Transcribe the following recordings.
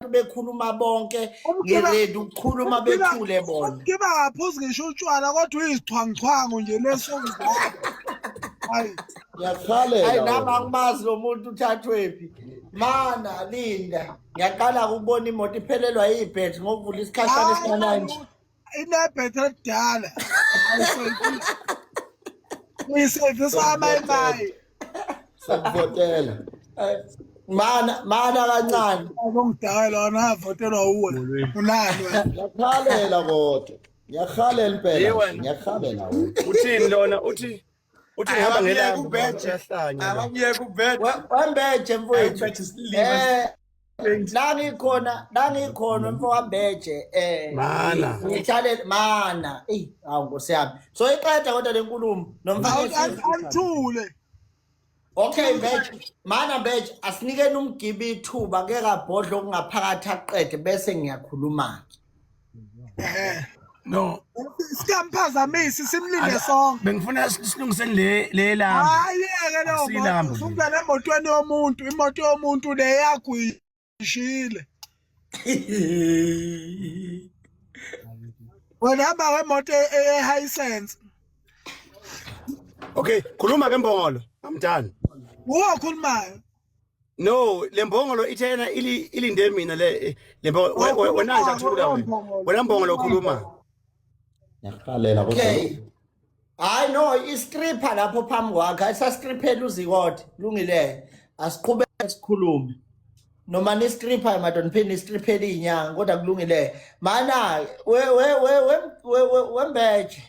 abantu bekhuluma bonke ngeredi ukukhuluma bethule bona kiba ngaphuzi ngisho utshwala kodwa uyizixhwanguxhwangu nje leso hayi ngiyakhalela hayi nami angimazi lo muntu uthathwephi mana linda ngiyaqala ukubona imoto iphelelwa yibhet ngokuvula isikhashana esincane nje inebhethe elidala ayisevisi uyisevisa amayimayi sakuvotela mana mana kancane ongidala lona avotelwa uwe unani wena ngiyakhalela kodwa ngiyakhalela impela Yiwe. ngiyakhalela wena uthini lona uthi uthi ngihamba ngelanga ubheje abamyeke ubheje wambeje mfowethu eh nangikhona nangikhona mfowambeje eh mana ngithale mana ey awu nkosiyami so iqeda kodwa lenkulumo nomfana awuthule Okay mbeje mana mbeje asinikeni umgibi ithuba ke kabhodla okungaphakathi aqede bese ngiyakhuluma Eh, no Sikamphazamisi simlinde sonke. bengifuna si- silungiseni le le lami Hayi yeke leyo Asilambe. moto. Usungena emotweni yomuntu, imoto yomuntu le yakho ngishile wena hamba ngemoto e- e- ehisense okay khuluma ke mbongolo amdani wuwe okhulumayo no le mbongolo ithe yena ili- ilinde mina le le mbongolo we- we- wena nje athula wena wena mbongolo khuluma Ngiyakuqalela kodwa. Okay. Hayi no istripper lapho phambi kwakhe ayisastriphela uzikode lungile asiqhube sikhulume noma ni stripper madoda niphinde istriphele inyanga kodwa kulungile mana we we we we we wembeje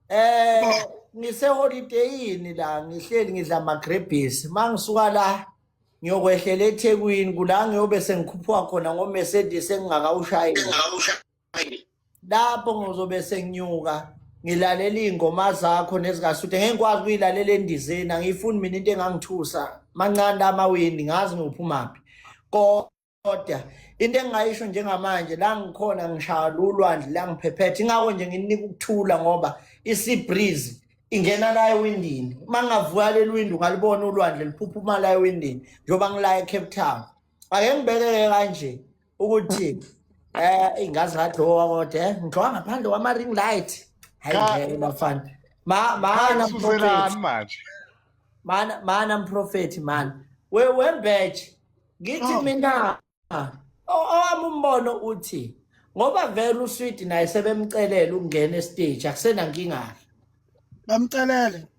eh ngise holidayini la ngihleli ngidla ama grebis mangisuka la ngiyokwehlela eThekwini kula ngiyobe sengikhuphuka khona ngo Mercedes engingakawushayeli lapho ngizobe senginyuka ngilalela iy'ngoma zakho nezikasuthe ngeke ngikwazi ukuyilalela endizeni angiyifuni mina into engangithusa mancane amawindi ngazi ngiwuphumaphi kodwa into engingayisho njengamanje la ngikhona ngishaya lulwandle la ngiphephethe ingako nje ngininika ukuthula ngoba isibreeze ingena la ewindini uma ngingavuka leli windi ungalibona ulwandle liphuphuma la ewindini njengoba ngila ecape town ake ngibekeke kanje ukuthi eh ingazi ngadlowa kodwa eh, ngidlowa ngaphandle kwama ring light hayi Ka- ngeke bafana ma mana Suzelani manje. mana mana mprofethi mana we wembeje ngithi Oh. mina o- owami umbono uthi ngoba vele uswidi naye sebemcelela ukungena estage akusenankinga bamcelele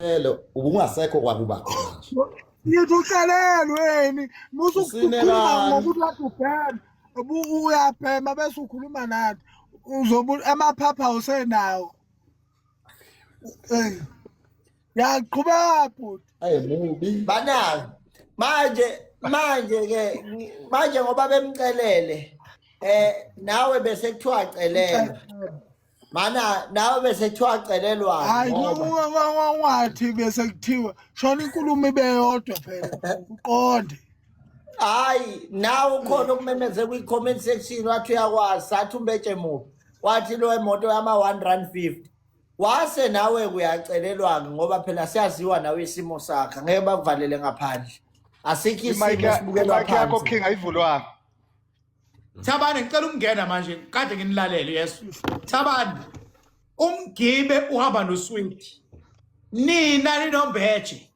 Lelo ubungasekho kwakuba khona nje. Ngithi uhlelelweni musu ukukhuluma ngokuthi wathi ubhema ubu uyabhema bese ukhuluma nathi uzobu amaphapha usenawo. Eh. Yaqhubeka bhuti. Ayi mubi. Banani. Manje manje ke manje ngoba bemcelele eh nawe bese kuthiwa celela. mana nawe bese kuthiwa celelwa hayi wathi bese kuthiwa shona inkulumo ibe yodwa phela uqonde hayi nawe ukhona ukumemeze kwi-comment section wathi uyakwazi sathi umbetshe mubi wathi lo emoto yama-one rand fifty wase nawe kuyacelelwa-ke ngoba phela siyaziwa nawe isimo sakhe ngeke bakuvalele ngaphandle asikho isimo sibukela phansi yakho king ayivulwanga Thabane ngicela ukungena manje kade nginilalele yesu Thabane umgibe uhamba nosweet nina ninombeje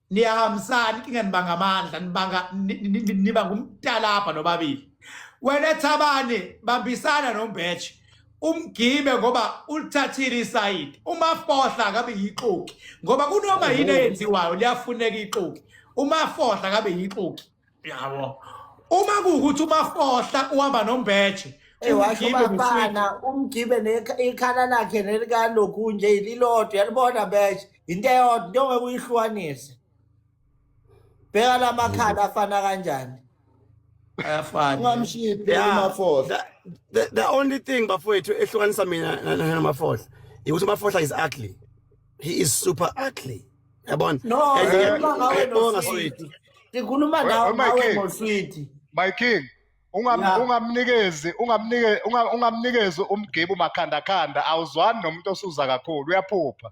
niyahambisana inkinga nibanga amandla nibanga niba ngumtalabha nobabili wena Thabane bambisana nombeje umgibe ngoba ulithathile isayidi umafohla akabe yixoki ngoba kunoma yini eyenziwayo liyafuneka ixoki umafohla akabe yixoki yabo uma kuwukuthi umafohla uhamba nombeje washo bafana umgibe ikhala lakhe nelikaloku nje ililodwa yalibona besh into eyodwa into ongeke uyihlukanise bheka la makhala afana kanjani ayafana ungamshiphi umafohla the only thing bafowethu ehlukanisa mina namafohla ukuthi umafohla is ugly he is super ugly yabona no ngiyabonga sweetie sikhuluma ngawe ngawe ngosweetie my king ungamnikezi ungamnikezi ungamnikezi umgibu makhandakhanda awuzwani nomuntu osuza kakhulu uyaphupha